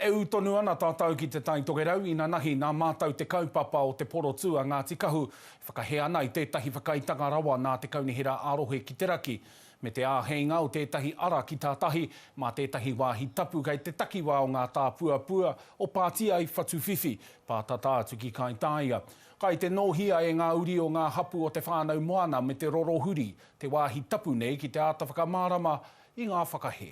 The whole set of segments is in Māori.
E ū tonu ana tātou ki Te Tai Tokerau inanahi nā mātou te kaupapa o te porotū a Ngāti Kahu e whakahē ana i tētahi whakaaetanga rawa nā te Kaunihera ā-Rohe ki te Raki, me te āheinga o tētahi ara ki tā tahi mā tētahi wāhi tapu kei te takiwā o ngā tāpuapua o Pātiai, Whatuwhiwhi, pātata atu ki Kaitāia. Kai te nōhia e ngā uri o ngā hapū o Te Whānau Moana me te rorohuri te wāhi tapu nei ki te āta whakamārama i ngā whakahē.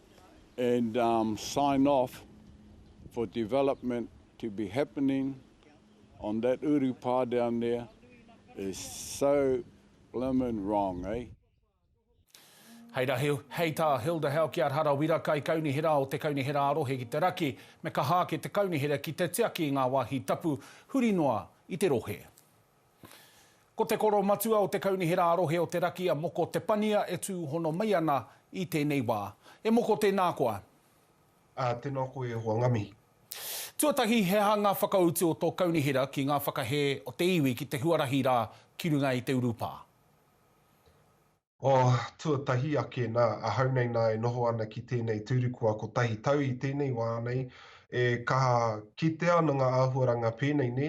and um sign off for development to be happening on that uru pa down there is so blimmin wrong eh. Hei ra hei tā Hilda Halkyard Harawira Kaikaunihera o te Kaunihera a Rohe ki te Raki, me kaha ake te Kaunihera ki te tiaki i ngā wāhi tapu huri noa i te rohe. Ko te koro matua o te Kaunihera a-Rohe o te Raki a Moko Te Pania e tūhono mai ana i tēnei wā. E Moko tēnā koa. Ā, tēnā koe e hoa nga mihi. Tuatahi, he aha ngā whakautu o tō Kaunihera ki ngā whakahē o te iwi ki te huarahi rā ki runga i te urupā? Oh, tuatahi ake, nā, ahau nei nā e noho ana ki tēnei tūru kua kotahi tau i tēnei wā nei, e kaha kitea ana ngā āhuaranga pēnei nē,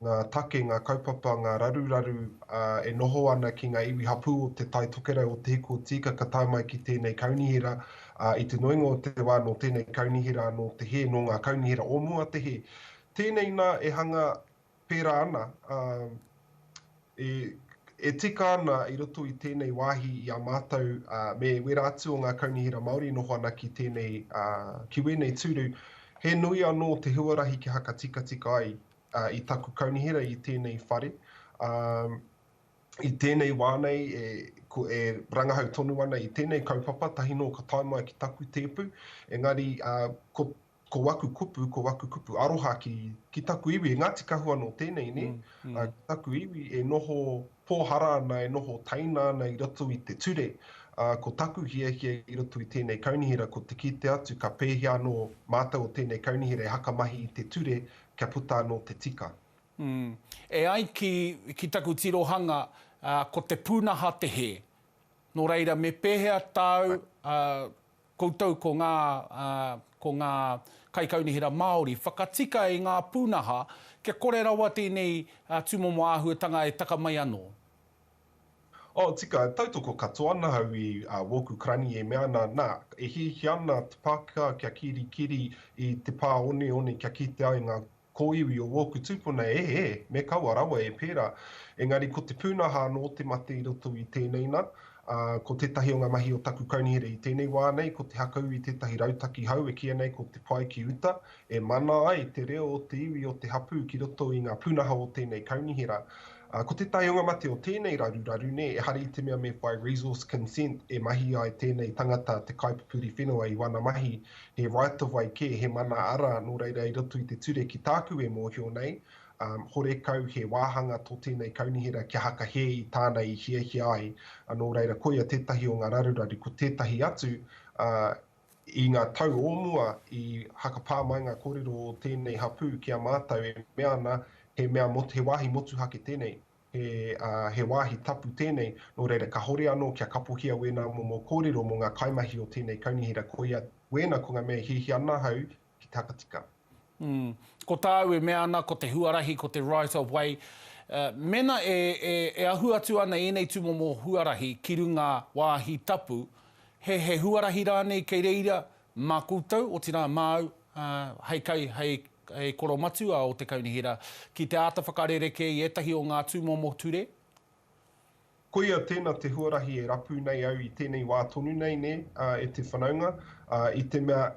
ngā take, ngā kaupapa, ngā raruraru, ā, e noho ana ki ngā iwi hapū o Te Tai Tokerau o Te Hiku o Tīkaka tae mai ki tēnei kaunihera, ā, i te nuinga o te wā nō tēnei kaunihera anō te hē, nō ngā kaunihera o mua te hē. Tēnei nā e hanga. Pērā ana, ā, e, e tika ana i roto i tēnei wāhi i a mātou, ā, me wērā atu o ngā kaunihera Māori e noho ana ki tēnei, ā, ki wēnei tūru, he nui anō te huarahi kia hakatikatika ai, ā, i taku kaunihera i tēnei whare, ā, i tēnei wā nei e, ko, e rangahau tonu ana i tēnei kaupapa, tahi nō ka tae mai ki taku tēpu, engari, ā, ko, Ko waku kupu, ko waku kupu aroha ki, ki taku iwi, e Ngāti Kahu anō tēnei, nē? Mm, mm. Uh, ki taku iwi e noho pōhara ana, e noho taina ana i roto i te ture. Uh, ko taku hiahia i roto i tēnei kaunihera, ko te kite atu, ka pēhea anō mātou o tēnei kaunihera e hakamahi i te ture kia puta anō te tika. Mm. E ai ki, ki taku tirohanga, uh, ko te pūnaha te hē. Nō reira, me pēhea tāu uh, Koutou ko ngā, ko ngā Kaikaunihera Māori, whakatika i ngā pūnaha kia kore rawa tēnei tūmomo āhuatanga e taka mai anō. Oh, tika, tautoko katoa ana au i wōku karani e mea ana, nā, e hiahia ana te Pākehā kia kirikiri i te pā oneone kia kitea e ngā Kōiwi o wōku tūpuna e, e, me kaua rawa e pērā. Engari ko te pūnaha anō te mate i roto i tēnei nā, ā, ko tētahi o ngā mahi o taku kaunihera i tēnei wā nei ko te hakau i tētahi rautaki hau e kīia nei ko Te Pae ki Uta, e mana ai te reo o te iwi o te hapū ki roto i ngā pūnaha o tēnei kaunihera. Ā, ko tētahi o ngā mate o tēnei raruraru nei, ehara i te mea me whai resource consent e mahi ai tēnei tangata te kaipupuri whenua i wana mahi he right of way kē, he mana ara, nō reira i roto i te ture ki tāku e mōhio nei, horekau he wāhanga tō tēnei kaunihera kia haka hē i tāna i hiahia ai, nō reira koia tētahi o ngā raruraru, ko tētahi atu, i ngā tau o mua i hakapā mai ngā kōrero o tēnei hapū ki a mātou e mea ana he mea, he wāhi motuhake tēnei. He wāhi tapu tēnei, nō reira kāhore anō kia kapohia wēnā momo kōrero mō ngā kaimahi o tēnei kaunihera koia wēna ko ngā mea i hiahia ana ahau ki te hakatika. Umm. Ko tāu e mea ana ko te huarahi ko te right of way, mēnā e ahu atu ana ēnei tūmomo huarahi ki runga wāhi tapu, he huarahi rānei kei reira mā koutou, otirā māu hei kai, hei He koro matua o te Kaunihera ki te āta whakarerekē i ētahi o ngā tūmomo ture. Koia tēna te huarahi e rapu nei au i tēnei wā tonu nei, nē, e te whanaunga, i te mea,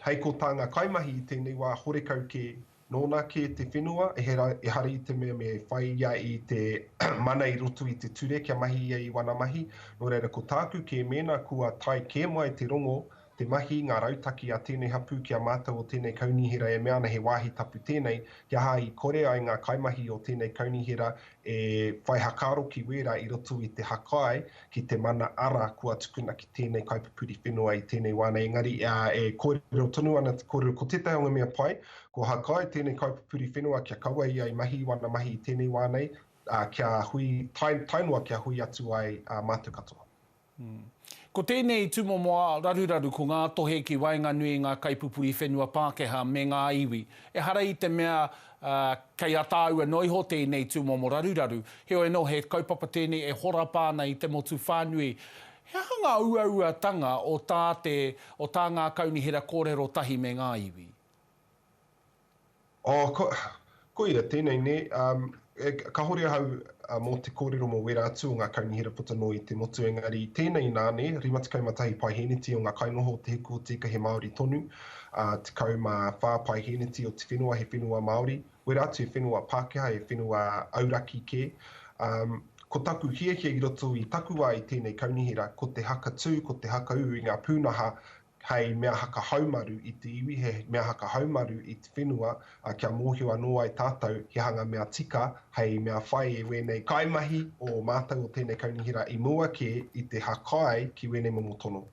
hei ko tā ngā kaimahi i tēnei wā horekau kē, nōna kē te whenua, ehara i te mea me whai ia i te mana i roto i te ture kia mahi ia i wana mahi, nō reira ko tāku kē mēnā kua tae kē mai te rongo te mahi, ngā rautaki a tēnei hapū ki a mātou o tēnei kaunihera e mea ana he wāhi tapu tēnei, he aha i kore ai ngā kaimahi o tēnei kaunihera e whai hakaaro ki wērā i roto i te hakae ki te mana ara kua tukuna ki tēnei kaipupuri whenua i tēnei wā nei engari e kōrero tonu ana te kōrero ko tētahi o ngā mea pai kua hakae tēnei kaipupuri whenua kia kaua ia i mahi i wana mahi i tēnei wā nei kia hui tae noa kia hui atu ai mātou katoa. Ko tēnei tūmomo ā-raruraru ko ngā tohe ki waenganui i ngā kaipupuri whenua Pākehā me ngā iwi. Ehara i te mea kei a tāua noa iho tēnei tūmomo raruraru, heoi anō he kaupapa tēnei e horapa ana i te motu whānui. He aha ngā uauatanga o tā te, o tā ngā kaunihera kōrero tahi me ngā iwi? Oh, ko, koia, tēnei nē. Um, e, kahore ahau uh, mō te kōrero mō wērā atu o ngā kaunihera puta noa i te motu, engari tēnei nā, nē, 51 paeheneti o ngā kainoho o te hiku o tika he Māori tonu, uh, 14 paeheneti o te whenua he whenua Māori, wērā atu he whenua Pākehā, he whenua auraki kē. Um, ko taku hiahia i roto i taku wā i tēnei kaunihera, ko te hakatū, ko te hakaū i ngā pūnaha hei mea haka haumaru i te iwi, he mea haka haumaru i te whenua, ā, kia mōhio anō ai tātou he hanga mea tika hei mea whai e wēnei kaimahi o mātou o tēnei kaunihera i mua kē i te hakae ki wēnei momo tono.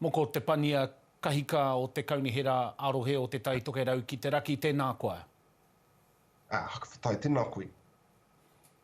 Moko Te Pania Kahika o te Kaunihera ā-Rohe o Te Tai Tokerau ki te Raki, tēnā koa. Ā, Haka Whatai, tēnā koe.